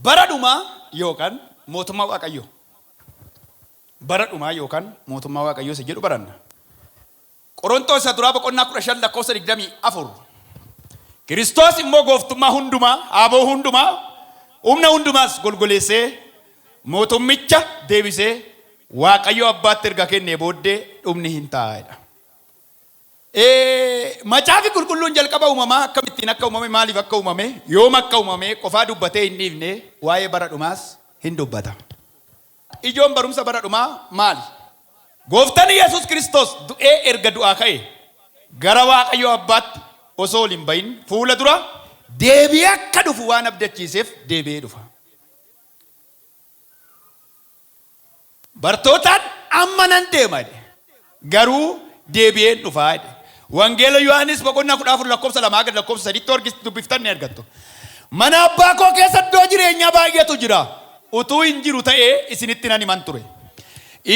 bara dhumaa yookaan mootummaa waaqayyoo bara dhumaa yookaan mootummaa waaqayyoo isa jedhu baranna. Qoronxoos Isa Duraa boqonnaa 15 lakkoofsa 24 Kiristoos immoo gooftummaa hundumaa, aaboo hundumaa, humna hundumaas golgoleessee mootummicha deebisee Waaqayyo abbaatti erga kennee booddee dhumni hin ta'a jedha. Ee, Macaafi Qulqulluun jalqaba uumamaa akkamittiin akka uumame, maaliif akka uumame, yoom akka uumame qofaa dubbatee hin dhiifne, waa'ee bara dhumaas hin dubbata. Ijoon barumsa bara dhumaa maali? Gooftan Yesus Kiristoos du'ee erga du'aa ka'ee gara Waaqayyo Abbaatti osoo ol hin ba'in fuula dura deebi'ee akka dhufu waan abdachiiseef deebi'ee dhufa. Bartootaan amma nan deema jedhe. Garuu deebi'een dhufa jedhe. Wangeela Yohaannis boqonnaa 14 lakkoofsa 2 haga lakkoofsa 3 tti yoo dubbiftan ni argattu. Mana abbaa koo keessa iddoo jireenyaa baay'eetu jira. Utuu hin jiru ta'ee isinitti nan himan ture.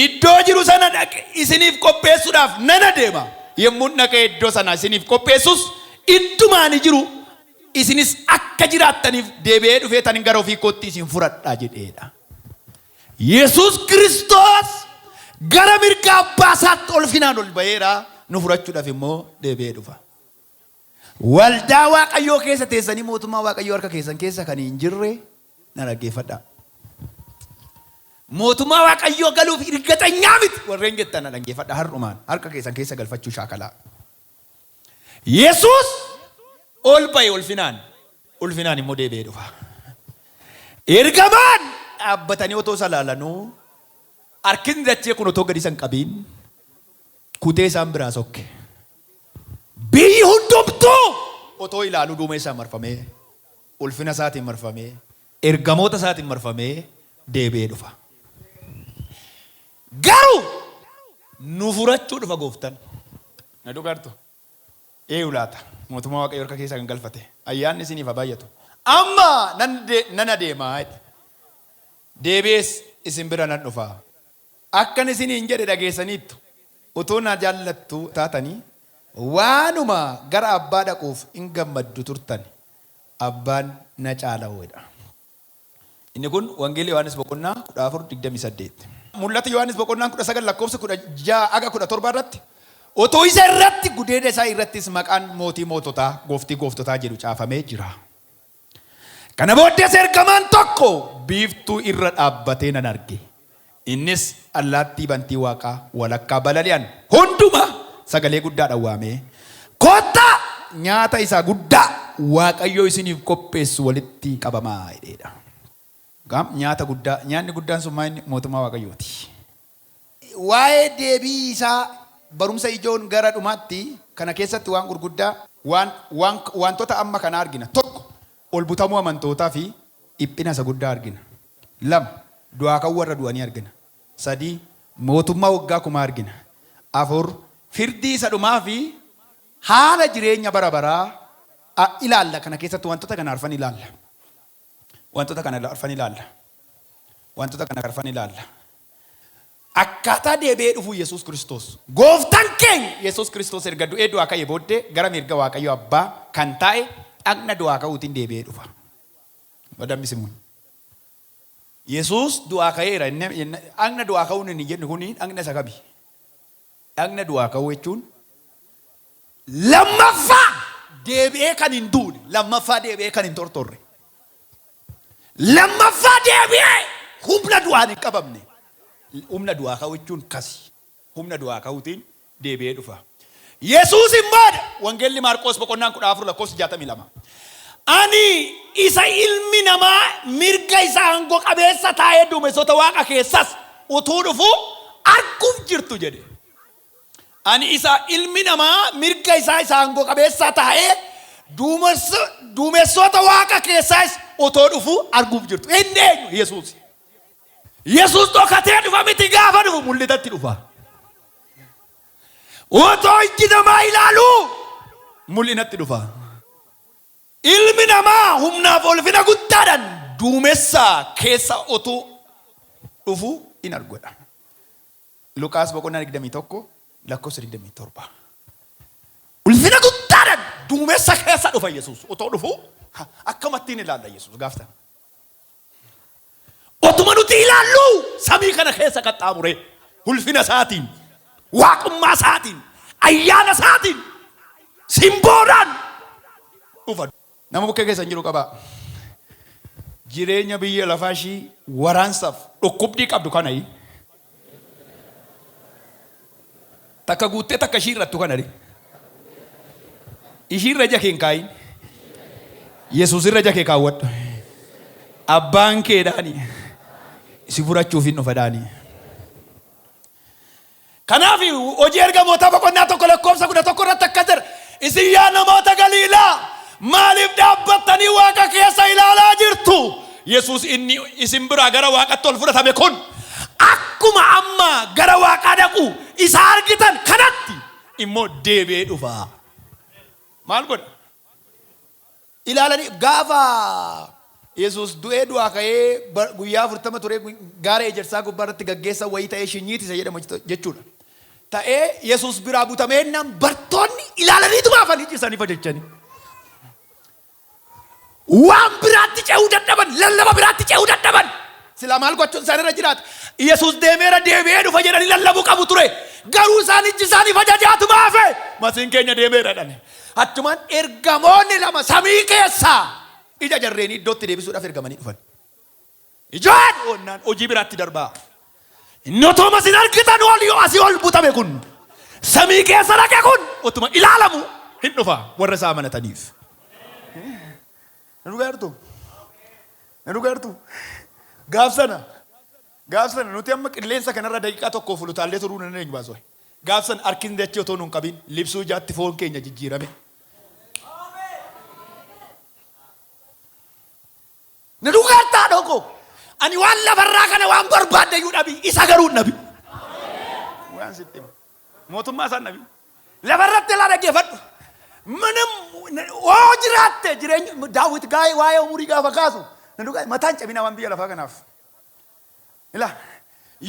Iddoo jiru sana dhaqe isiniif qopheessuudhaaf nan adeema. Yommuun dhaqee iddoo sana isiniif qopheessus idduma ani jiru isinis akka jiraattaniif deebi'ee dhufee tan gara ofii kootti isin fudhadha jedheedha. Yesuus Kiristoos gara mirga Abbaa isaatti ulfinaan ol ba'eera, nu fudhachuudhaaf immoo deebi'ee dhufa. Waldaa Waaqayyoo keessa teessanii mootummaa Waaqayyoo harka keessan keessa kan hin jirre na dhaggeeffadhaa. Mootummaa Waaqayyoo galuuf irgaxanyaa miti warreen jettan na dhaggeeffadhaa har'umaan harka keessan keessa galfachuu shaakalaa. Yesuus ol ba'e ulfinaan, ulfinaan immoo deebi'ee dhufa. Ergamaan dhaabbatanii otoo isa laalanuu harkisni dachee kun otoo gadi isan qabiin kutee isaan biraa sokke. Biyyi hundumtuu otoo ilaaluu duumee isaa marfamee ulfina isaatiin marfamee ergamoota isaatiin marfamee deebi'ee dhufa. Garuu nu furachuu dhufa Gooftan. Na dhugaartu? Eeyu laata mootummaa Waaqayyoo harka keessaa kan galfate? Ayyaanni isiniif haa baay'atu. Amma nan nan adeema jedhe. Deebi'ees isin bira nan dhufa. Akkan isiniin jedhe dhageessaniittu. Utuu na jaallattu taatanii waanuma gara Abbaa dhaquuf in gammaddu turtan. Abbaan na caala jedha. Inni kun Wangeela Yohaannis boqonnaa 14 28. Mul'ata Yohaannis boqonnaan 19 lakkoofsa 16 haga 17 irratti Utuu isa irratti gudeeda isaa irrattis maqaan mootii moototaa gooftii gooftotaa jedhu caafamee jira. Kana booddees ergamaan tokko biiftuu irra dhaabbatee nan arge. Innis allaattii bantii waaqaa walakkaa balali'an hundumaa sagalee guddaadhaan waamee, Kottaa nyaata isa guddaa Waaqayyo isiniif qopheessu walitti qabamaa! jedheedha. Gaam, nyaata guddaa, nyaanni guddaan sun maa inni? Mootummaa Waaqayyooti. Waa'ee deebii isaa barumsa ijoon gara dhumaatti kana keessatti waan gurguddaa, waan, waan, waantota amma kanaa argina. Tokko, ol butamuu amantootaa fi dhiphina isa guddaa argina. 2, Du'aa ka'uu warra du'anii argina. 3, Mootummaa waggaa kumaa argina. 4, Firdii isa dhumaa fi haala jireenya bara baraa a ilaalla kana keessatti wantoota kana arfan ilaalla. Wantoota kana arfan ilaalla. Wantoota kana arfan ilaalla. Akkaataa deebi'ee dhufuu Yesuus Kiristoos. Gooftaan keenya Yesuus Kiristoos erga du'ee du'aa ka'ee booddee gara mirga Waaqayyo Abbaa kan taa'e dhagna du'aa ka'uutiin deebi'ee dhufa. Madam Simuun. Yesuus du'aa ka'eera inni inni- dhagna du'aa ka'uun inni jedhu kun dhagna isa kami? Dhagna du'aa ka'uu jechuun lammaffaa deebi'ee kan hin duune, lammaffaa deebi'ee kan hin tortorre, lammaffaa deebi'ee humna du'aan hin qabamne. Humna du'aa ka'uu jechuun kasi. humna du'aa ka'uutiin deebi'ee dhufa. Yesuusiin booda, Wangeelli Maarqoos boqonnaan 14 lakkoofsi 62. Ani isa ilmi namaa mirga isa aangoo qabeessa taa'ee duumessoota waaqa keessas utuu dhufuu arguuf jirtu jedhe. Ani isa ilmi namaa mirga isaa isa aangoo qabeessaa taa'ee duumessa- duumessoota waaqa keessaas otoo dhufuu arguuf jirtu. Inni eenyu? Yesuusi. Yesuus dhokatee dhufa miti gaafa dhufu mul'atatti dhufa. Otoo ijji namaa ilaaluu mul'inatti dhufa. Ilmi namaa humnaaf ulfina guddaadhaan duumessa keessa otuu dhufu in argodha. Luqaas boqonnaa 21 lakkoofsa 27. Ulfina guddaadhaan duumessa keessa dhufa Yesuus otoo dhufu akkamattiin ilaalla Yesuus gaaftan. Otuma nuti ilaallu samii kana keessa qaxxaamuree ulfina isaatiin, waaqummaa isaatiin, ayyaana isaatiin simboodhaan dhufa. Nama bukkee keessa hin jiru qabaa. Jireenya biyya lafaa ishii waraansaaf dhukkubdii qabdu kana Takka guuttee takka ishii irrattu kana ree. Ishii irra ija kee hin kaayin. Yesuus irra ija kee kaawwadhu. Abbaan keedhaani si furachuuf hin dhufadhaani. Kanaaf hojii ergamootaa boqonnaa tokko lakkoofsa kudha tokko irratti akkas jedha. Isin yaa namoota Galiilaa! Maaliif dhaabbattanii Waaqa keessa ilaalaa jirtu? Yesuus inni isin biraa gara Waaqatti ol fudhatame kun akkuma amma gara Waaqaa dhaqu isa argitan kanatti immoo deebi'ee dhufa. Maal godha? Ilaalanii gaafa Yesuus du'ee du'aa ka'ee bar- guyyaa afurtama turee gu- gaara ejersaa gubbaa irratti gaggeessa wayii ta'ee shinyiitisa jedhama jechuudha. ta'ee Yesuus biraa butame ennaan bartoonni ilaalaniituma hafan iji isaanii fajachanii. Waan biraatti ce'uu dadhaban, lallaba biraatti ce'uu dadhaban. Silaa maal gochuun isaan irra jiraata? Yesuus deemeera deebi'ee dhufa jedhanii lallabuu qabu ture. Garuu isaan iji isaanii fajajaatuma hafe. Masiin keenya deemeera jedhani. Achumaan ergamoonni lama samii keessaa ija jarreenii iddootti deebisuudhaaf ergamanii dhufan. Ijaa dhi'oonnaan hojii biraatti darbaa. Inni otooma sin argitan ol yoo asii ol butame kun samii keessa dhaqe kun otuma ilaalamu hin dhufa warra isaa amanataniif. Na dhugaa jirtu? Na dhugaa jirtu? Gaaf sana gaaf sana nuti amma qilleensa kanarra daqiiqaa tokko fulutaallee turuu nan eenyu baasoo. Gaaf sana harkisni dachee otoo nun qabin libsuu ijaatti foon keenya jijjiirame. Na dhugeerta haadhoo koo. Ani waan lafarraa kana waan barbaaddayyuu dhabi. Isa garuu hin dhabi. Waan sitti hima. Mootummaa isaan dhabi. Lafarratti ilaa dhaggeeffadhu. Minim hoo jiraatte jireenya daawwit gaa'ee waa'ee umurii gaafa kaasu. Na dhugaa mataan cabinaa waan biyya lafaa kanaaf. Ila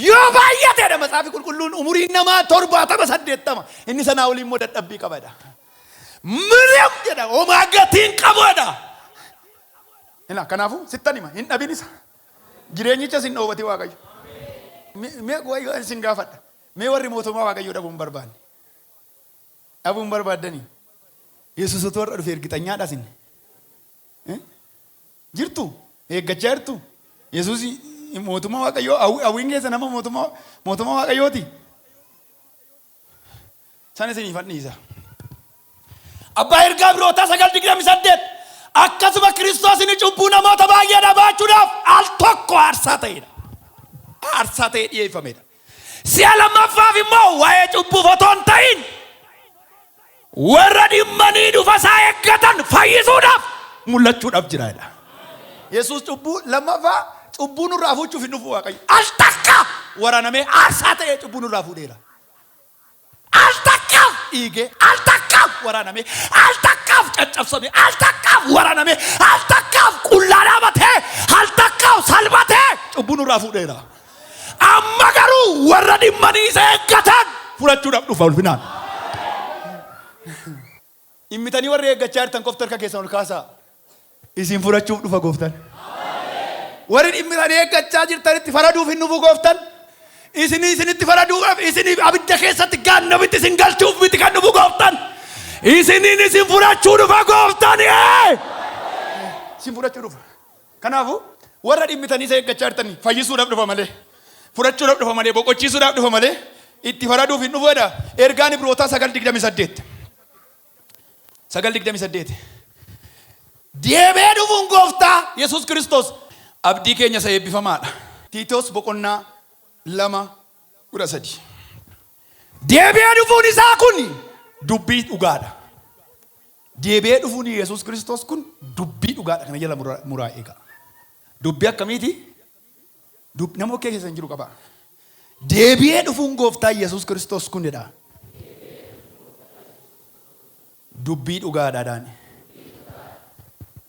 yoo baay'ateedha matsaafi qulqulluun umuriin namaa torbaatama saddeettama inni sanaa olii immoo dadhabbii qabadha. Mirim jedha homaa gatiin qaboodha. Ila kanaafuu sittan hima hin dhabin isa. Jireenyicha sin dhoobati waaqayyo. Me- Mee waaqayyo sin gaafadha. Mee warri mootummaa waaqayyo dhabuu hin barbaanne. Dhabuu hin barbaaddanii. Yesuus utuu har'a dhufe ergitanyaadha sin. Eh? Jirtu? Eeggachaa jirtu? Yesuus mootummaa Waaqayyoo hawwi- hawwiin keessa nama mootummaa mootummaa Waaqayyooti. San isiniif hadhiisa. Abbaa ergaa birootaa 9:28 akkasuma Kiristoos inni cubbuu namoota baay'eedhaa baachuudhaaf al tokko aarsaa ta'eedha. Aarsaa ta'ee dhiyeeffamedha. Si'a lammaffaaf immoo waa'ee cubbuuf otoo hin ta'in warra dhimmanii dhufa isaa eeggatan fayyisuudhaaf mul'achuudhaaf jira jedha. Yesuus cubbuu lammaffaa cubbuu nurraa fuuchuuf hin dhufu Waaqayyo. Al takka waraanamee aarsaa ta'ee cubbuu nurraa fuudheera. Al takkaaf dhiigee, al takkaaf waraanamee, al takkaaf caccabsamee, al takkaaf waraanamee, al takkaaf qullaa dhaabatee, al takkaaf salphatee cubbuu nurraa fuudheera. Amma garuu warra dhimmanii isa eeggatan fudhachuudhaaf dhufa ulfinaan. Dhimmitanii warri eeggachaa jirtan qofti harka keessan ol kaasaa. Isin fudhachuuf dhufa Gooftan. Warri dhimmitanii eeggachaa jirtanitti faraduuf hin dhufu Gooftan. Isinii isinitti faraduudhaaf isiniif abidda keessatti gaannamitti isin galchuuf miti kan dhufu Gooftan. Isiniin isin fudhachuu dhufa Gooftan. Ee! Isin fudhachuu dhufa. Kanaafuu, warra dhimmitanii isa eeggachaa jirtan fayyisuudhaaf dhufa malee, fudhachuudhaaf dhufa malee, boqochiisuudhaaf dhufa malee, itti faraduuf hin dhufu jedha ergaan Ibrootaa 9:28. 9:28. Deebi'ee dhufuun gooftaa Yesuus Kiristoos abdii keenya isa eebbifamaa dha. Tiitoos boqonnaa 2 13. Deebi'ee dhufuun isaa kun dubbii dhugaa dha. Deebi'ee dhufuun Yesuus Kiristoos kun dubbii dhugaa dha. Kana jala muraa eegaa. Dubbii akkamiiti? Dub- Nama okkee keessan jiru qabaa. Deebi'ee dhufuun gooftaa Yesuus Kiristoos kun jedha. Dubbii dhugaa dha daani.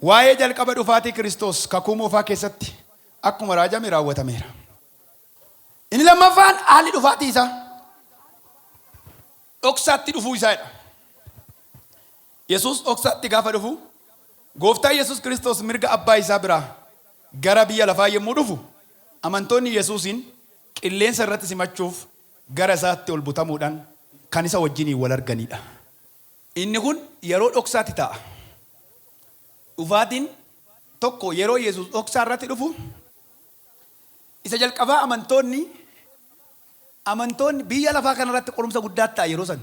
Waa'ee jalqaba dhufaatii Kiristoos kakuu moofaa keessatti akkuma raajame raawwatameera. Inni lammaffaan haalli dhufaatii isaa dhoksaatti dhufuu isaa dha. Yesuus dhoksaatti gaafa dhufu, Gooftaan Yesuus Kiristoos mirga Abbaa isaa biraa gara biyya lafaa yommuu dhufu, amantoonni Yesuusiin qilleensa irratti simachuuf gara isaatti ol butamuudhaan kan isa wajjiniin wal arganii dha. Inni kun yeroo dhoksaatti ta'a. Dhufaatiin tokko yeroo Yesuus dhoksaa irratti dhufu, Isa jalqabaa amantoonni, amantoonni biyya lafaa kana irratti qorumsa guddaatti ta'a yeroo san.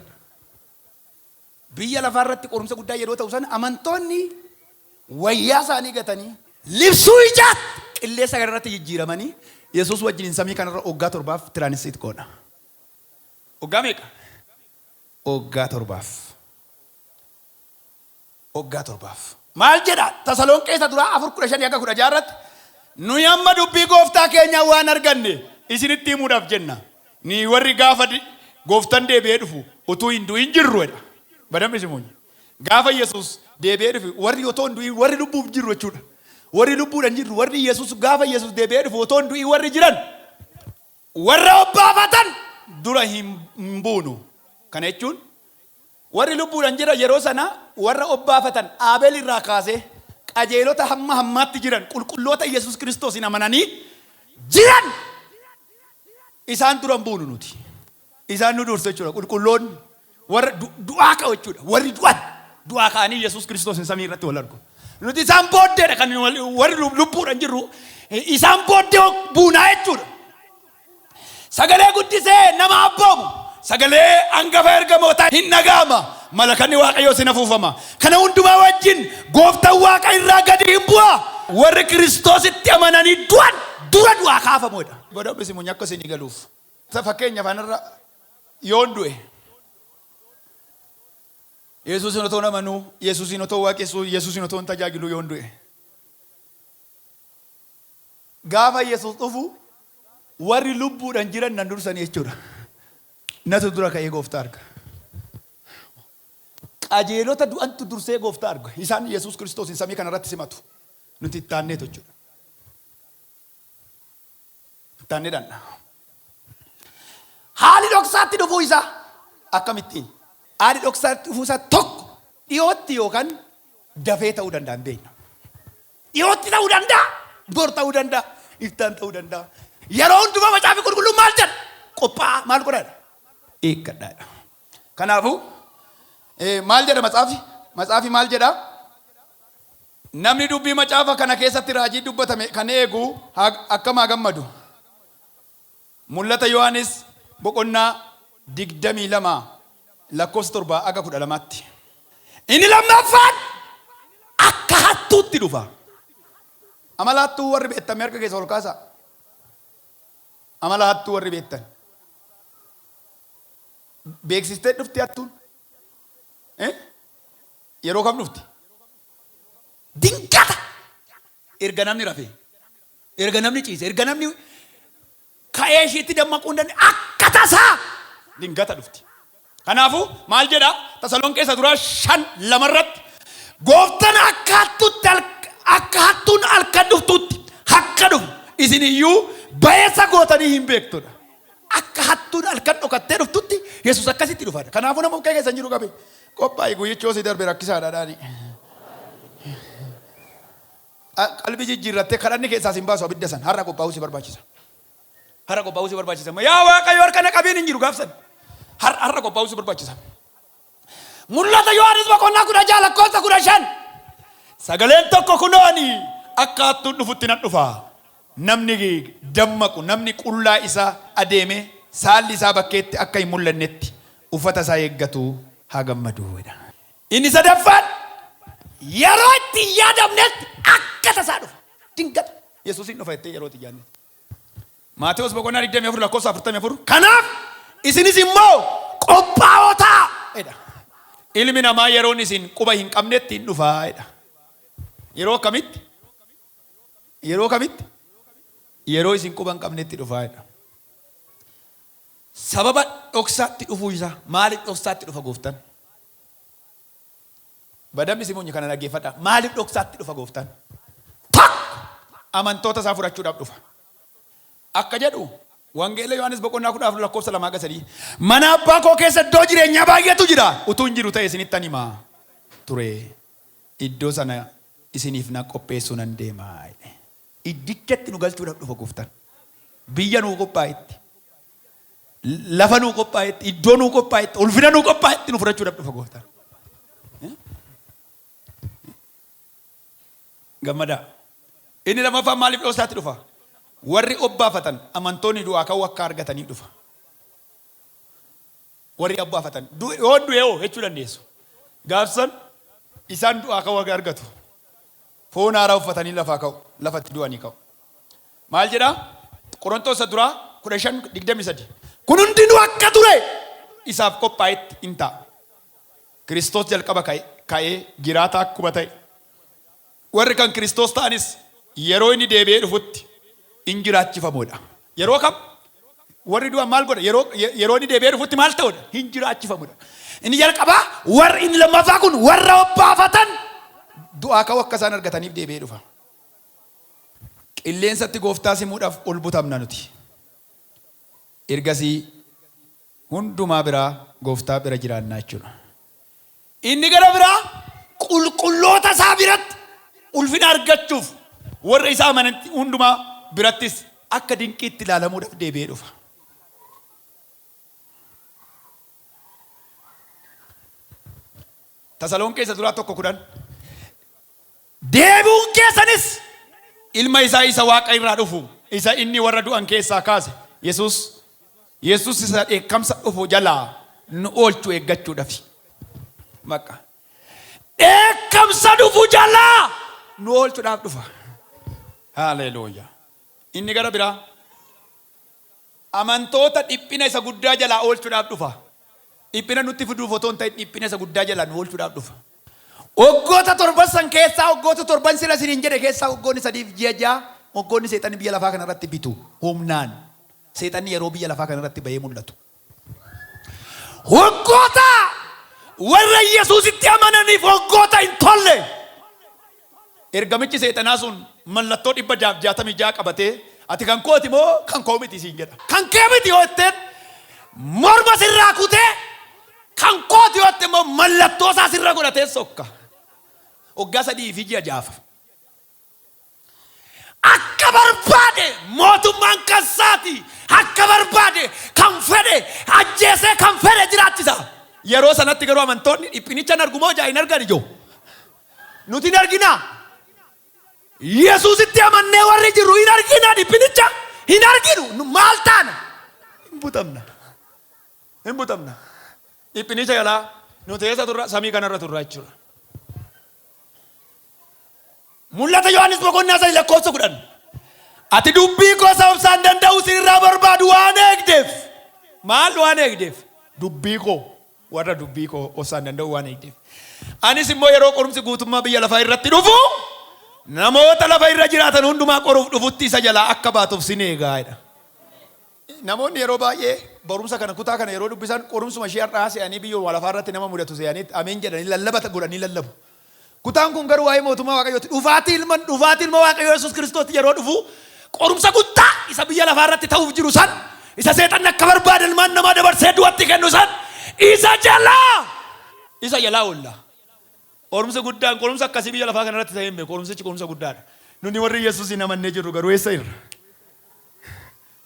Biyya lafaa irratti qorumsa guddaa yeroo ta'u san amantoonni wayyaa isaanii gatanii, libsuu ijaatti qilleessa kana irratti jijjiiramanii Yesuus wajjiniin samii kana irra waggaa torbaaf tiraanissiit goona. Waggaa meeqa? Waggaa torbaaf. waggaa torbaaf. Maal jedha? Tasalonqee isa duraa 4 15-16 irratti, Nuyi amma dubbii Gooftaa keenyaa waan arganne isinitti himuudhaaf jenna, nuyi warri gaafa Gooftan deebi'ee dhufu utuu hin du'in jirru jedha. Badambi simuunyi. Gaafa Yesuus deebi'ee dhufe warri otoo hin du'in warri lubbuuf jirru jechuudha. Warri lubbuudhan jirru warri Yesuus gaafa Yesuus deebi'ee dhufu otoo hin du'in warri jiran. Warra obbaafatan dura hin buunu. Kana jechuun warri lubbuudhaan jiran yeroo sana warra obbaafatan Aabeel irraa kaasee qajeelota hamma hammaatti jiran qulqulloota Yesus Kiristoosiin amananii jiran isaan dura hin buunu nuti. Isaan nu dursu jechuudha. Qulqulloonni Warra du- du'aa ka'u jechuudha. Warri du'an du'aa ka'anii Yesuus Kiristoosiin samii irratti wal argu. Nuti isaan booddeedha kan wal- warri lub- lubbuudhaan jirru. Isaan booddee buunaa jechuudha. Sagalee guddisee nama abboomu. Sagalee hangafa ergamootaa hin dhaga'ama. Malakanni Waaqayyoos hin afuufama. Kana hundumaa wajjin gooftaan Waaqa irraa gadi hin bu'a. Warri Kiristoositti amananii du'an dura du'aa kaafamuudha. Godhamni simuun akka isinii galuuf. Sa fakkeenyaaf anarra yoon du'e Yesuusin otoo namanuu, Yesuusin otoo waaqessuu, Yesuusin otoo hin tajaajiluu yoon du'e. Gaafa Yesuus dhufu warri lubbuudhaan jiran nan dursanii jechuudha. Natu dura ka'ee gooftaa arga. Qajeelota du'antu dursee gooftaa arga. Isaan Yesuus Kiristoosiin samii kanarratti simatu. Nuti itti aanneetu jechuudha. Ittaan ni dhandha. Haali dhoksaatti dhufuu isaa akkamittiin? Haali dhoksaatti dhufuu isaa tokko dhiyootti yookaan dafee ta'uu danda'a hin beekna. Dhiyootti ta'uu danda'a, bor ta'uu danda'a, iftaan ta'uu danda'a. Yeroo hundumaa macaafi qulqulluun maal jedha? Qophaa'aa maal godhaadha? Eeggadhaadha. Kanaafuu maal jedha macaafi? Macaafi maal jedha? Namni dubbii macaafa kana keessatti raajii dubbatame kan eegu akkam haa gammadu! Mul'ata Yohaannis boqonnaa 22 lakkoofsa 7-12tti. Inni lammaffaan akka hattuutti dhufa. Amala hattuu warri beektan mee harka keessa ol kaasaa? Amala hattuu warri beektan. Beeksistee dhufti hattuun. Eh? Yeroo kam dhufti? Dingata! Erga namni rafee, erga namni ciise, erga namni ka'ee ishiitti dammaquu hin dandeenye akka tasaa dingata dhufti. Kanaafuu maal jedha Tasalonqee isa duraa shan lama irratti gooftan akka hattuutti halk- akka hattuun halkan dhuftuutti akka dhufu isin iyyuu ba'eessa gootanii hin beektudha. Akka hattuun halkan dhokattee dhuftutti Yesuus akkasitti dhufa. Kanaafuu nama bukkee keessan jiru qabe Qophaa'i guyyichi yoo si darbe rakkisaadha dhaani. Qalbii jijjiirrattee kadhanni keessaa sin baasu abidda san har'a qophaa'uu si barbaachisa. Har'a qophaa'uu si barbaachisa. Yaa Waaqayyo harka na qabiin hin jiru gaaf san. Har'a har'a qophaa'uu si barbaachisa. Mul'ata Yohaannis boqonnaa kudha ja'a lakkoofsa kudha shan. Sagaleen tokko kunoo ani akka hattuun dhufutti nan dhufa. Namni dammaqu namni qullaa isaa adeemee saalli isaa bakkeetti akka hin mul'annetti uffata isaa eeggatu haa gammadu jedha. Inni sadaffaan yeroo itti hin yaadamnetti akka tasaa dhufa. Dingata. Yesuus hin dhufa jettee yeroo itti hin yaadnetti. Maatewos boqonnaa 24 lakkoofsa 44 kanaaf isinis immoo qophaa'oo ta'a jedha. Ilmi namaa yeroon isin quba hin qabnetti hin dhufa jedha. Yeroo akkamitti? Yeroo kamitti? Yeroo isin quba hin qabnetti dhufa jedha. Sababa dhoksaatti dhufuu isaa. Maaliif dhoksaatti dhufa gooftaan? Badammi simuunyi kana dhaggeeffadhaa. Maaliif dhoksaatti dhufa gooftaan? Tokko amantoota isaa fudhachuudhaaf dhufa. Akka jedhu Wangeela Yohaannis boqonnaa kudha afur lakkoofsa lamaa hanga sadii mana abbaa koo keessa iddoo jireenyaa baay'eetu jira utuu hin jiru ta'e isinittan hima ture iddoo sana isiniif nan qopheessuu nan deema. Iddichatti nu galchuudhaaf dhufa Gooftaan. Biyya nuu qophaa'etti, lafa nuu qophaa'etti, iddoo nuu qophaa'etti, ulfina nuu qophaa'etti nu fudhachuudhaaf dhufa Gooftaan. Gammadaa. Inni lammaffaan maaliif dhoosaatti dhufa? Warri obbaafatan amantoonni du'aa ka'uu akka argatanii dhufa. Warri abbaafatan du'e yoon du'e hoo jechuu dandeessu. Gaaf san isaan du'aa ka'uu haga argatu. Foon haaraa uffatanii lafaa ka'u, lafa itti du'anii ka'u. Maal jedha? Qoronxoos isa duraa 15 23 Kun hundinuu akka ture isaaf qophaa'etti in ta'a. Kiristoos jalqaba ka'e, ka'ee, jiraataa akkuma ta'e, Warri kan Kiristoos ta'anis yeroo inni deebi'ee dhufutti in jiraachifamoo dha. Yeroo kam? Warri du'an maal godha? Yeroo, yeroo inni deebi'ee dhufutti maal ta'u dha? Hin jiraachifamu dha. Inni jalqabaa warri inni lammaffaa kun warra obbaafatan du'aa ka'uu akka isaan argataniif deebi'ee dhufa. Qilleensatti gooftaa simuudhaaf ol butamna nuti. Ergasii hundumaa biraa Gooftaa bira jiraannaa jechuudha. Inni gara biraa qulqulloota isaa biratti ulfina argachuuf warra isa amanan hundumaa birattis akka dinqiitti ilaalamuudhaaf deebi'ee dhufa. Tasalonqee isa duraa tokko kudhan. deebi'uun keessanis Ilma isaa isa waaqa irraa dhufu, isa inni warra du'an keessaa kaase, Yesuus, Yesuus isa dheekkamsa dhufu jalaa nu oolchu eeggachuudhafi. Bakka. Dheekkamsa dhufu jalaa nu oolchuudhaaf dhufa. Haleeluuyaa. Inni gara biraa. Amantoota dhiphina isa guddaa jalaa oolchudhaaf dhufa. Dhiphina nutti fiduuf otoo hin ta'in dhiphina isa guddaa jalaa nu oolchudhaaf dhufa. Waggoota torban san keessaa waggoota torban sila isiniin jedhe keessaa waggoonni sadii fi ji'a ja'a waggoonni seexanni biyya lafaa kana irratti bitu humnaan seexanni yeroo biyya lafaa kana irratti bahee mul'atu. Waggoota warra Yesuusitti amananiif waggoota hin tolle. Ergamichi Seexanaa sun mallattoo 666 qabatee, Ati kan kooti moo kan koo miti? siin jedha. Kan kee miti yoo jetteen, morma sirraa kutee, kan kooti yoo jette immoo mallattoo isaa sirra godhatee sokka. Waggaa sadii fi ji'a ja'aaf. Akka barbaade mootummaan kan isaati. Akka barbaade kan fedhe ajjeesee kan fedhe jiraachisa. Yeroo sanatti garuu amantoonni dhiphinicha hin argu moo ijaa hin argan ijoo? nuti hin argina. Yesuusitti amannee warri jirru hin argina dhiphinicha hin arginu Nu- maal taana? Hin butamna. Hin butamna. Dhiphinicha jalaa nuti eessa turra? Samii kanarra turra jechuudha. Mul'ata Yohaannis boqonnaa sadii lakkoofsa kudhan. Ati dubbii koo isa obsaan danda'u sirraa barbaadu waan eegdeef. Maal waan eegdeef? Dubbii koo. warra dubbii koo obsaan danda'uu waan eegdeef. Anis immoo yeroo qorumsi guutummaa biyya lafaa irratti dhufu namoota lafa irra jiraatan hundumaa qoruuf dhufutti isa jalaa akka baatuuf sin eegaa jedha. Namoonni yeroo baay'ee barumsa kana kutaa kana yeroo dubbisan qorumsuma ishee har'aa se'anii biyyuma lafaa irratti nama mudatu se'anii ameen jedhanii lallabata godhanii lallabu. Kutaan kun garuu waa'ee mootummaa Waaqayyooti. Dhufaatii ilma dhufaatii ilma Waaqayyoo Yesuus Kiristoos yeroo dhufu qorumsa guddaa isa biyya lafaa irratti ta'uuf jiru san isa seexanni akka barbaade ilmaan namaa dabarsee du'atti kennu san isa jalaa isa jalaa oolla. Qorumsi guddaan qorumsa akkasii biyya lafaa kana irratti ta'ee hin beeku. Qorumsichi qorumsa guddaadha. Nuni warri Yesuusiin amannee jirru garuu eessa jirra?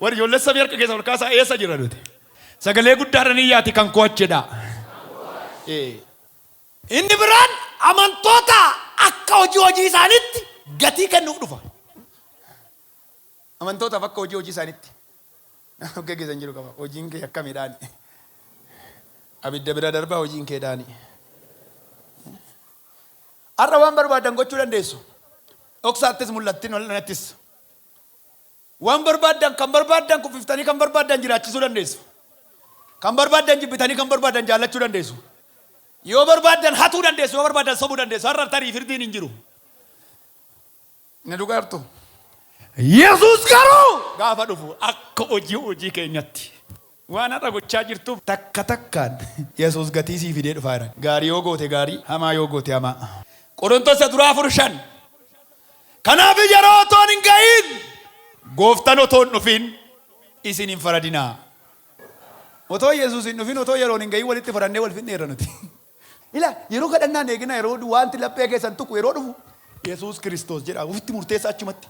Warri ijoollee samii harka keessa ol kaasaa eessa jirra nuti? Sagalee guddaadhaan iyyaati kan koo achidha. Ee. Inni biraan amantoota akka hojii hojii isaaniitti gatii kennuuf dhufa. Amantootaaf akka hojii hojii isaaniitti of geggeessan jiru qaba. Hojiin kee akkami dhaani? Abidda bira darbaa hojiin kee dhaani. Har'a waan barbaadan gochuu dandeessu. Dhoksaattis mul'attin ol'anattis. Waan barbaaddan, kan barbaaddan kuffiftanii kan barbaaddan jiraachisuu dandeessu. Kan barbaaddan jibbitanii kan barbaaddan jaallachuu dandeessu. Yoo barbaaddan hatuu dandeessu, yoo barbaaddan sobuu dandeessu. Har'a tarii firdiin hin jiru. Ni dhugaartu. Yesuus garuu gaafa dhufu akka hojii hojii keenyatti. Waan har'a gochaa jirtuuf takka takkaan Yesuus gatii sii fidee dhufaa jira. Gaarii yoo goote gaarii, hamaa yoo goote hamaa. Qorontos Isa Duraa 4, 5. Kanaaf yeroo otoon hin ga'iin, Gooftan otoo hin dhufin isin hin faradinaa. Otoo Yesuus hin dhufin, otoo yeroon hin ga'iin walitti farannee wal fixneerra nuti. Ilaali, yeroo kadhannaa hin eeginaa, yeroo waanti laphee keessan tuqu yeroo dhufu, Yesuus Kiristoos jedhaa ofitti murteessaa achumatti.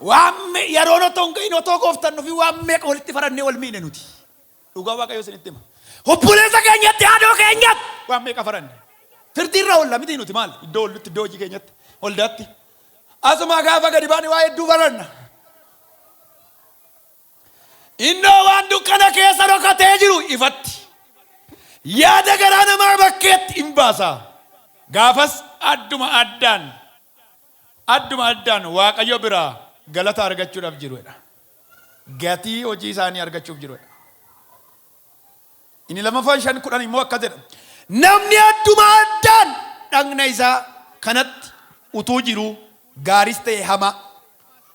Waan me- yeroon otoo hin gahin otoo gooftan dhufin waan meeqa walitti farannee wal miine nuti. Dhugaa waaqayyo isinitti hima. Obboleessa keenyatti haadhoo keenyatti waan meeqa faranne. Firdii irra oolla miti nuti maal iddoo oollutti iddoo hojii keenyatti waldaatti. Asumaa gaafa gadi baane waa hedduu faranna. Innoo waan dukkana keessa dhokatee jiru ifatti. Yaada garaa namaa bakkeetti hin baasa. Gaafas adduma addaan adduma addaan Waaqayyo biraa galata argachuudhaaf jiru dha. Gatii hojii isaanii argachuuf jiru dha. Inni lammaffaan shan kudhan immoo akkas jedha. Namni adduma addaan dhagna isaa kanatti utuu jiruu gaaris ta'e hamaa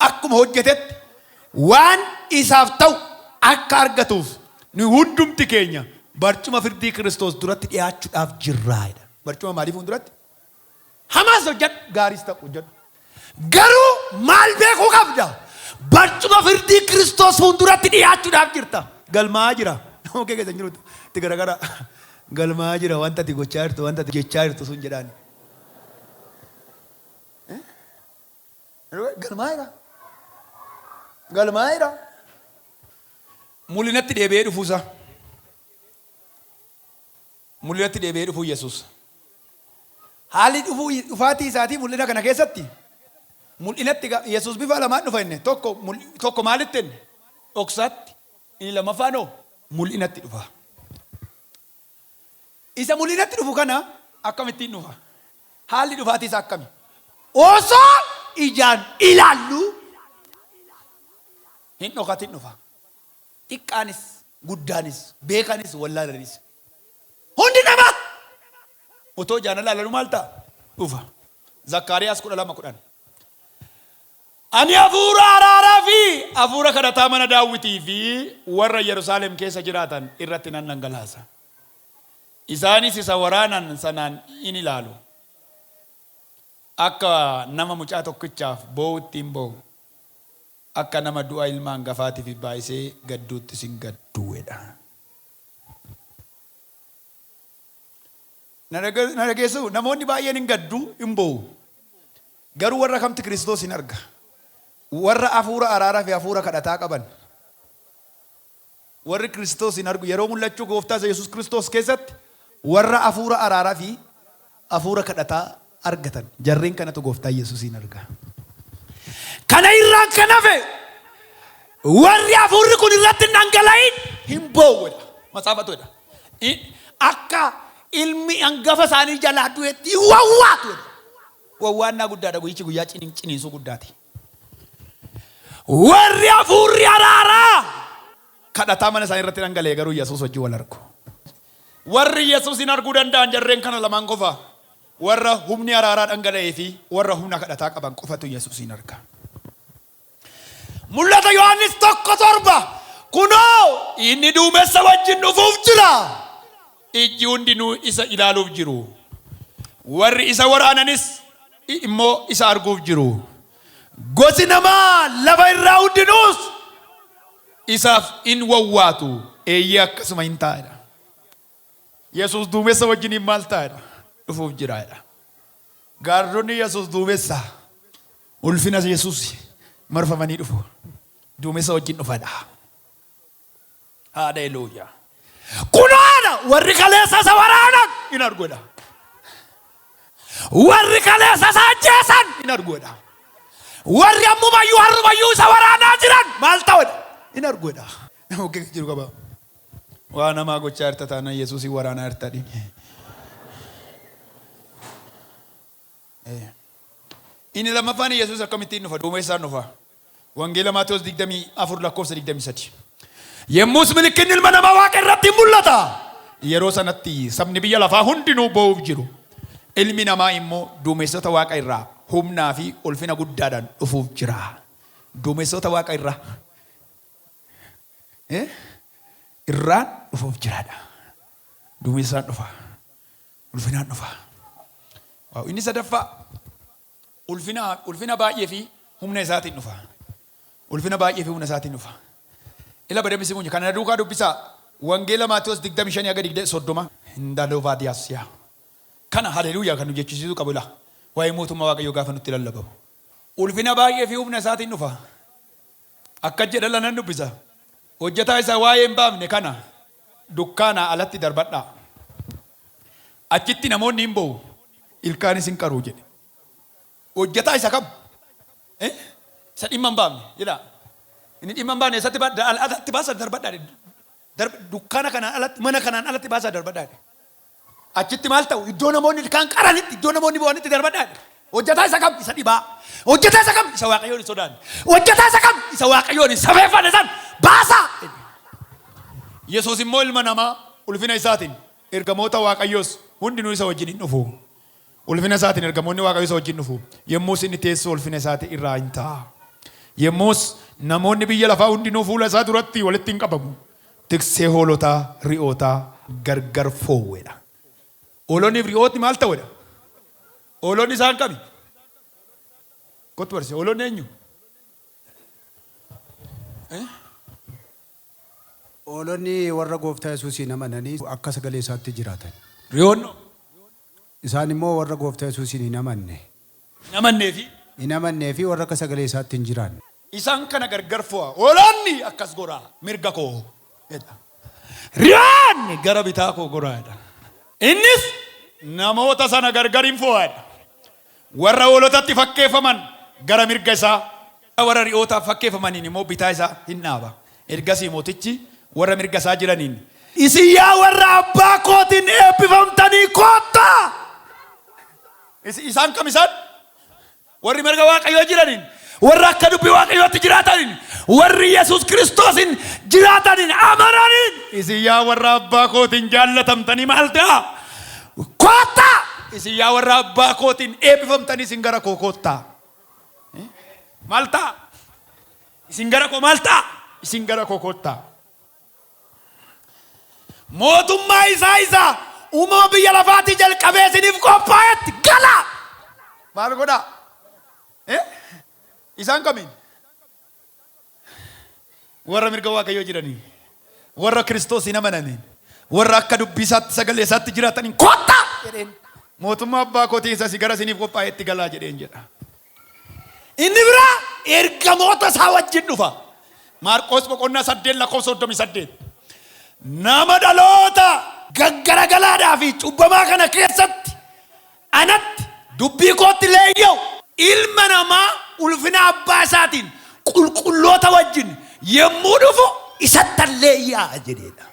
akkuma hojjetetti waan isaaf ta'u akka argatuuf nu hundumti keenya barcuma firdii Kiristoos duratti dhiyaachuudhaaf jirraa dha. Barcuma maalii fuulduratti? Hamaas hojjedhu, gaariis ta'u hojjedhu. Garuu maal beekuu qabda? Barcuma firdii Kiristoos fuulduratti dhiyaachuudhaaf jirta. Galmaa'aa jira. Nama kee keessa hin jiru itti garagaraa. Galmaa'aa jira wanta ati gochaa jirtu, wanta ati jechaa jirtu sun jedhaan. Galmaa'eera. Galmaa'eera. Mul'inatti deebi'ee dhufuusaa. Mul'inatti Deebi'ee Dhufuu Yesuus. Haalli dhufuu, dhufaatii isaatii mul'ina kana keessatti, mul'inatti ga, Yesuus bifa lamaan dhufa inni, tokko, mul, tokko maalitti inni? Dhoksaatti. Inni lammaffaan hoo? Mul'inatti dhufa. Isa mul'inatti dhufu kana akkamittiin dhufa? Haalli dhufaatii isaa akkami? Osoo ijaan ilaalluu hin dhokatin dhufa. Xiqqaanis. guddaanis, beekanis, wallaalanis. Hundi nama! Otoo ijaan laalanu maal ta'a? Dhufa. Zakkaariyaas 12 10. Ani hafuura araaraa fi hafuura kadhataa mana daawwitii fi warra Yerusaalem keessa jiraatan irratti nan dhangalaasa. Isaanis isa waraanan sanaan in ilaalu. Akka nama mucaa tokkichaaf boo'utti in boo'u. Akka nama du'a ilma angafaatifi baayisee gadduutti sin gadduuedha. Na dhageessuu? Namoonni baay'een in gaddu, in boo'u. Garuu warra kamtti Kiristoos in arga? Warra hafuura araarafi hafuura kadhataa qaban. Warri Kiristoos hin argu yeroo mul'achuu Gooftaa isa Yesuus Kiristoos keessatti warra afuura araaraa fi afuura kadhataa argatan jarreen kanatu Gooftaa Yesuusiin arga. Kana irraan kan hafe warri afuurri kun irratti hin dhangala'in hin boo'u jedha. Matsaafatu jedha. I- Akka ilmi hangafa isaanii jalaa du'etti hin wawwaatu jedha. Wawwaannaa guddaadha guyyichi guyyaa ciniin- ciniinsuu guddaati. Warri hafuurri araaraa kadhataa mana isaanii irratti dhangala'e garuu Yesuus wajjin wal argu. Warri Yesuusiin arguu danda'an jarreen kana lamaan qofa. Warra humni araaraa dhangala'ee fi warra humna kadhataa qaban qofatu Yesuusiin arga. Mul'ata Yohaannis tokko torba kunoo inni duumessa wajjin dhufuuf jira. Ijji hundinuu isa ilaaluuf jiru, warri isa waraananis immoo isa arguuf jiru. Gosi namaa lafa irraa hundinuus isaaf in wawwaatu, eeyyee akkasuma in ta'a jedha. Yesuus duumessa wajjiniin maal ta'a jedha? Dhufuuf jira jedha. Gaardonni Yesuus duumessa ulfina Yesuus marfamanii dhufu. Duumessa wajjin dhufadha. Haleluuyaa. Kunoo ana warri kaleessa isa waraanan in arguudha. Warri kaleessa isa ajjeesan in arguudha. Warri ammumayyuu har'umayyuu isa waraanaa jiran maal ta'udha? In arguudha. Nama okkee jiru qaba. Waa namaa gochaa jirta taanaan Yesuusiin waraanaa jirta dhini. Inni lammaffaan Yesuus akkamittiin dhufa? Duumessaan dhufa. Wangeela Maatewos 24 lakkoofsa 23. Yemmuus milikkinni ilma namaa waaqa irratti hin mul'ata. Yeroo sanatti sabni biyya lafaa hundinuu boo'uuf jiru. Ilmi namaa immoo duumessota waaqa irraa humnaa fi ulfina guddaadhaan dhufuuf jira. Duumessota waaqa irraa eh, irraan dhufuuf jiraadha. Duumessaan dhufa. ulfinaan dhufa. Waaw, inni sadaffaa ulfina ulfina baay'ee fi humna isaatiin dhufa. Ulfina baay'ee fi humna isaatiin dhufa. Ila badame si munya kana duukaa dubbisaa wangeela Maatewos 25 haga 20 30 indalova diasia kana haleluuyaa kan nu jechisiisuu qabu ila waa'ee mootummaa waaqayyoo gaafa nutti lallabamu ulfina baay'ee fi humna isaatiin dhufa. Akkas jedha la nan dubbisa. Hojjetaa isa waa'ee hin baafne kana dukkaanaa alatti darbadhaa. Achitti namoonni in boo'u, ilkaanis in qaru jedhe. Hojjetaa isa kam? Eh? Isa dhimma hin baafne. Ilaa. Inni dhimma hin baafne eessatti ba- da- al- alatti baasaa darbadhaa jedhe. Darb- Dukkaana kanaan alatti, mana kanaan alatti baasaa darbadhaa jedhe. Achitti maal ta'u? Iddoo namoonni ilkaan qaranitti, iddoo namoonni boo'anitti darbadhaa jedhe. Hojjetaa isa kam? Isa dhibaa. Hojjetaa isa kam? Isa Waaqayyoon hin sodaanne. Hojjetaa isa kam? Isa Waaqayyoon hin safeeffanne san baasaa! jedhe. Yesuus immoo ilma namaa ulfina isaatiin, ergamoota Waaqayyoos hundinuu isa wajjin in dhufu. Ulfina isaatiin ergamoonni Waaqayyoo isa wajjin dhufu. Yommus inni teessoo ulfina isaatii irraa in taa'a. Yommus namoonni biyya lafaa hundinuu fuula isaa duratti walitti in qabamu. Tiksee hoolotaa, ri'ootaa gargar foowwe dha. Hoolonnii fi ri'ootni maal ta'u dha? Hoolonni isaan kami? Kottu barsiisa. Hoolonni eenyu? Hoolonni warra gooftaa Yesuusiin amananii akka sagalee isaatti jiraatan. Ri'oonno? Isaan immoo warra Gooftaa Yesuusiin hin amanne. hin amannee fi. hin amannee fi warra akka sagalee isaatti hin jiraanne. Isaan kana gargar fo'aa. Hoolonni akkas goraa, mirga koo jedha. Re'oonni gara bitaa koo goraa jedha. Innis namoota sana gargar in fo'aa jedha. Warra hoolotatti fakkeeffaman gara mirga isaa. warra ri'ootaaf fakkeeffamaniin immoo bitaa isaa in dhaaba. Ergasii mootichi warra mirga isaa jiraniin. Isin yaa warra abbaa kootiin eebbifamtanii koottaa! Is, isaan kam isaan? Warri mirga Waaqayyoo jiraniin Warra akka dubbii Waaqayyootti jiraataniin, warri Yesuus Kiristoosiin jiraataniin, amananiin. Isin yaa warra abbaa kootiin jaallatamtanii maal ta'a? Koottaa! Isin yaa warra abbaa kootiin eebbifamtanii isin gara koo koottaa. Eh? Maal ta'a? Isin gara koo maal ta'a? Isin gara koo koottaa. Mootummaa isaa isa uumama biyya lafaatii jalqabee isiniif qophaa'etti gala. Maal godhaa? Ee, isaan kamiin? Warra mirga Waaqayyoo jiraniin, warra Kiristoosiin amananiin, warra akka dubbii isaatti sagalee isaatti jiraataniin kottaa jedheen. Mootummaa abbaa kootii isa si gara isiniif qophaa'etti galaa jedheen jedha. Inni biraa ergamoota isaa wajjin dhufa. Maarqoos boqonnaa saddeet lakkoofsa soddomii saddeet. Nama dhaloota gaggaragalaadhaa fi cubbamaa kana keessatti Anatti, dubbii kootti leeyya'u. Ilma namaa ulfina abbaa isaatiin qulqulloota wajjin yommuu dhufu isattan leeyya'a jedheedha.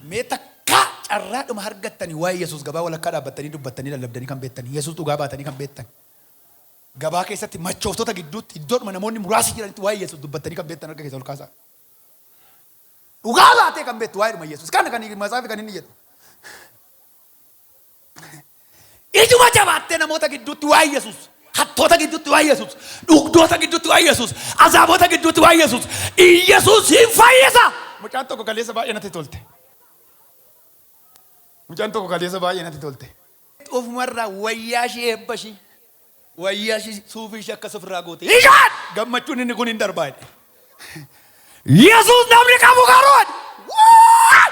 Mee takkaa carraadhuma argattanii waa'ee Yesuus gabaa walakkaa dhaabbattanii dubbattanii lallabdanii kan beektan, Yesuus dhugaa baatanii kan beektan, gabaa keessatti machooftota gidduutti iddoodhuma namoonni muraasi jiranitti waa'ee Yesuus dubbattanii kan beektan harka keessan ol kaasaa. Dhugaa baatee kan beektu waa'eedhuma Yesuus kana kan Matsaafi kan inni jedhu. Ijuma jabaattee namoota gidduutti waa Yesuus. Hattoota gidduutti waa Yesuus. Dhugdoota gidduutti waa Yesuus. Azaabota gidduutti waa Yesuus. Yesuus hin fayyisa. Mucaan tokko kaleessa baay'ee natti tolte. Mucaan tokko kaleessa baay'ee natti tolte. Ofumarraa wayyaa ishii eebba ishii. Wayya ishi suufii ishee akkas ofirraa goote. Ishaan gammachuun inni kun hin darbaa jedhe. Yesuus namni qabu garuu jedhe. Waay!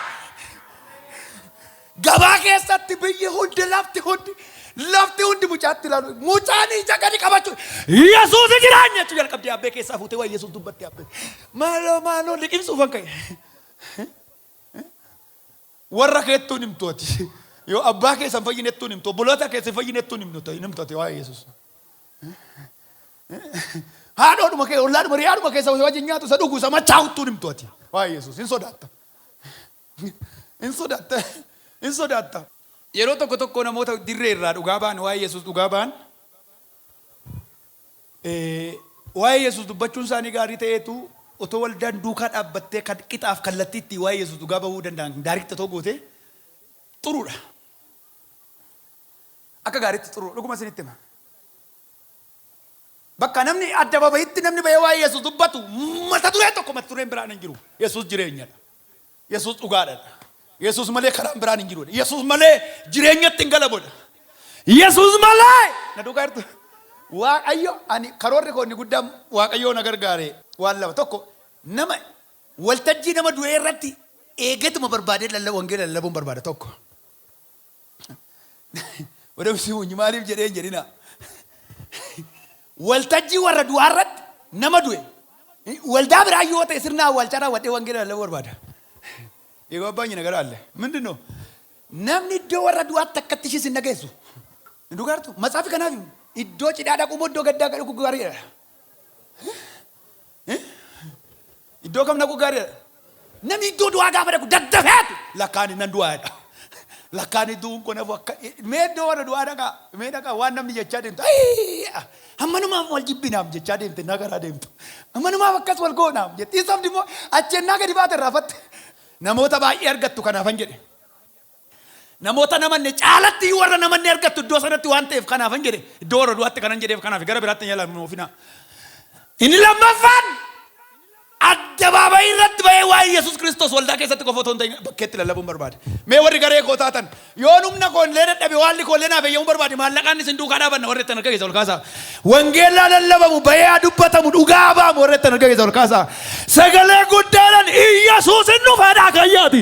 Gabaa keessatti biyyi hundi lafti hundi lafti hundi mucaatti ilaalu mucaan ija gadi qabachuu Yesuus jiraan jechuu jalqabdee abbee keessaa fuutee waa'ee Yesuus dubbatti abbee maaloo maaloo liqimsuufan ka'e. Warra keettuu hin himtu ati. Yoo abbaa keessan fayyinettuu hin himtu. Obboloota keessan fayyinettuu hin himtu hin himtu ati waa'ee Yesuus. Haadhoodhuma kee ollaadhuma riyaadhuma keessa isa wajjin nyaatu isa dhugu isa machaa'uttuu hin himtu ati waa'ee Yesuus hin sodaatta. Hin sodaatta. Hin sodaatta. Yeroo tokko tokko namoota dirree irraa dhugaa ba'an waa'ee Yesuus dhugaa ba'an Waa'ee Yesus dubbachuunsaanii gaarii ta'eetu, otoo waldaan duukaa dhaabbattee kan qixaaf kallattii ittiin waa'ee Yesus dhugaa ba'uu danda'an daariitti otoo gootee xuruu dha. Akka gaariitti xuruu dha. Dhuguma isinitti hima. Bakka namni addabaabayitti namni ba'ee waa'ee Yesus dubbatu mata dureen tokko mata dureen biraan hin jiru. Yesus jireenya dha. Yesuus dhugaadha dha. Yesuus malee karaan biraan hin jiru dha. Yesuus malee jireenyatti hin galamu dha. Yesuus malee na dhugaa jirtu. Waaqayyo ani karoorri koo inni guddaan Waaqayyoo na gargaare waan lama tokko nama waltajjii nama du'ee irratti eegatuma barbaadee lalla wangeela lallabuun barbaada tokko. Madam Simuny maaliif jedhee hin jedhinaa. Waltajjii warra du'aa irratti nama du'e waldaa biraa yoo ta'e sirna awwaalchaa raawwadhee wangeela lallabuu barbaada. Egaa abbaan nyina gara alle. Mindin noo? Namni iddoo warra du'aatti akkatti ishii sin dhageessu. Hin dhugaartu? Matsaafi kanaaf iddoo cidhaa dhaquu moo iddoo gaddaa dhaquu gaariidha? Iddoo kam dhaquu gaariidha? Namni iddoo du'aa gaafa dhaqu daddafeetu lakkaani nan du'aa jedha. Lakkaani du'uun kun hafu akka mee iddoo warra du'aa dhaqaa mee dhaqaa waan namni jechaa deemtu "Ayii, ammanumaaf wal jibbinaam jechaa deemte naa garaa deemtu ammanumaaf akkas wal goonaam jettiin sabdi immoo achi ennaa gadi baate irraafatte namoota baay'ee argattu kanaafan jedhe. Namoota hin amanne caalatti iyyuu warra hin amanne argattu iddoo sanatti waan ta'eef kanaafan jedhe iddoo warra du'aatti kanan jedheef kanaafi gara biraatti hin yaalamnu ofina. Inni lammaffaan addabaabayii irratti ba'ee waa'ee Yesuus Kiristoos waldaa keessatti qofa otoo hin ta'in bakkeetti lallabuun barbaade. Mee warri garee koo taatan yoon humna koo illee dadhabe waalli koo illee naaf eeyyamuun barbaade maallaqaan isin duukaa dhaabanna warri ittiin harka keessa ol kaasaa. Wangeellaa lallabamu ba'ee haa dubbatamu dhugaa ba'amu warri ittiin harka keessa ol kaasaa. Sagalee guddaadhaan Iyyasuus hin dhufeedhaa kayyaati.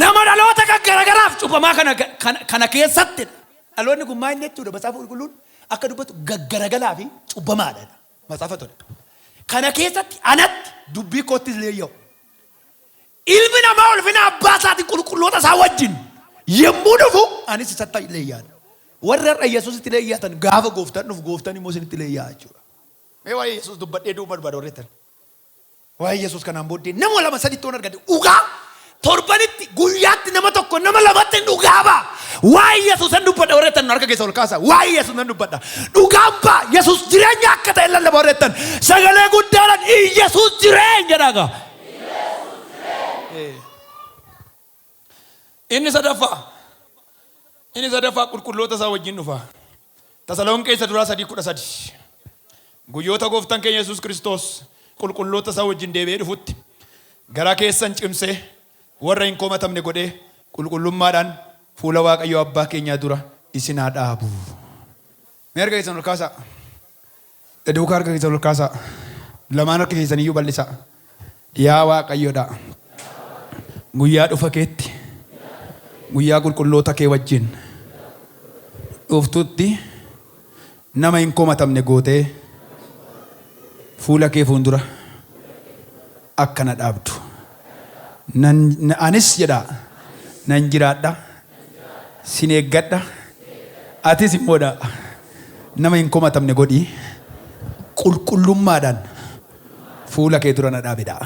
Nama dhaloota kan garagaraaf cufamaa kana, kana, kana keessatti dhaloonni kun maal jechuudha matsaafa qulqulluun akka dubbatu gaggaragalaa fi cubbamaadha matsaafa tole kana keessatti anatti dubbii koottis illee yoo ilmi namaa ulfina abbaa isaatiin qulqulloota isaa wajjin yommuu dhufu anis isatti illee yaada warri har'a yesuusitti illee yaatan gaafa gooftaan dhufu gooftaan immoo isinitti illee yaa jechuudha mee waa'ee yesuus dubbadhee duuba barbaada warri ittiin Waa'ee Yesuus kanaan booddee nama lama sadittoon argadhe. Dhugaa torbanitti guyyaatti nama tokko nama lamatti hin dhugaa ba'a. Waa'ee Yesuus nan dubbadha warra jettan harka keessa ol kaasa. Waa'ee Yesuus nan dubbadha. Dhugaan ba'a Yesuus jireenya akka ta'e lallaba warra jettan sagalee guddaadhaan Yesuus jireenyadha gaa. Ee. Inni sadaffaa Inni sadaffaa qulqulloota isaa wajjin dhufa. Tasalonqee isa duraa sadii kudha sadi. Guyyoota gooftan keenya Yesuus Kiristoos qulqulloota isaa wajjin deebi'ee dhufutti garaa keessan cimsee warra hin komatamne godhee qulqullummaadhaan fuula Waaqayyoo Abbaa keenyaa dura isin haa dhaabu. Mee harka keessan ol kaasaa. Na duukaa harka keessan ol kaasaa. Lamaan harka keessan iyyuu bal'isaa. Yaa Waaqayyodha. Guyyaa dhufa keetti. Guyyaa qulqulloota kee wajjin. Dhuftutti nama hin komatamne gootee fuula kee fuundura akka na dhaabdu. Nan, na- anis jedhaa nan jiraadha Sin eeggadha. Atis immoo dha nama hin komatamne godhi. Qulqullummaadhaan fuula kee dura na dhaabi dha.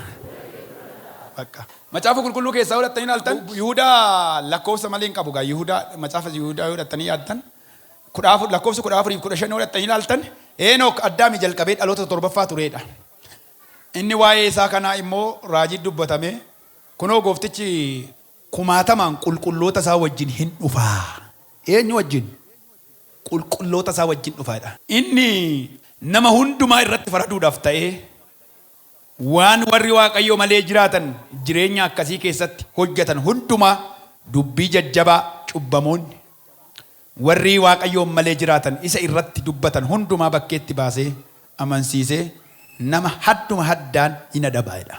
Baqqa. Macaafa Qulqulluu keessaa yoo dhattanii ilaaltan, Yihudaa lakkoofsa malee hin qabu. Egaa Yihudaa, macaafa Yihudaa yoo dhattanii yaaddan, 14 lakkoofsa 14 fi 15 yoo dhattanii ilaaltan, Heenook Addaamii jalqabee dhaloota isa torbaffaa turee dha. Inni waa'ee isaa kanaa immoo raajii dubbatame, Kunoo gooftichi Kumaatamaan qulqulloota isaa wajjin hin dhufa. Eenyu wajjin? Qulqulloota isaa wajjin dhufa jedha. Inni nama hundumaa irratti faraduudhaaf ta'ee, waan warri Waaqayyo malee jiraatan jireenya akkasii keessatti hojjetan hundumaa dubbii jajjabaa cubbamoonni warri Waaqayyoon malee jiraatan isa irratti dubbatan hundumaa bakkeetti baasee amansiisee nama hadduma haddaan in adaba jedha.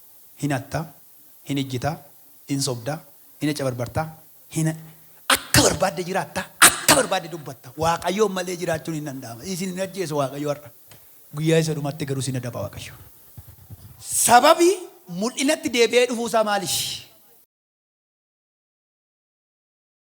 hin hatta, hin ejjita, hin sobda, hin accabarbarta, hin akka barbaadde jiraatta, akka barbaadde dubbatta. Waaqayyoon malee jiraachuun hin danda'ama. Isin hin ajjeesu Waaqayyo har'a. Guyyaa isa dhumaatti garuu isin adaba Waaqayyo. Sababi mul'inatti deebi'ee dhufuusaa maalifi?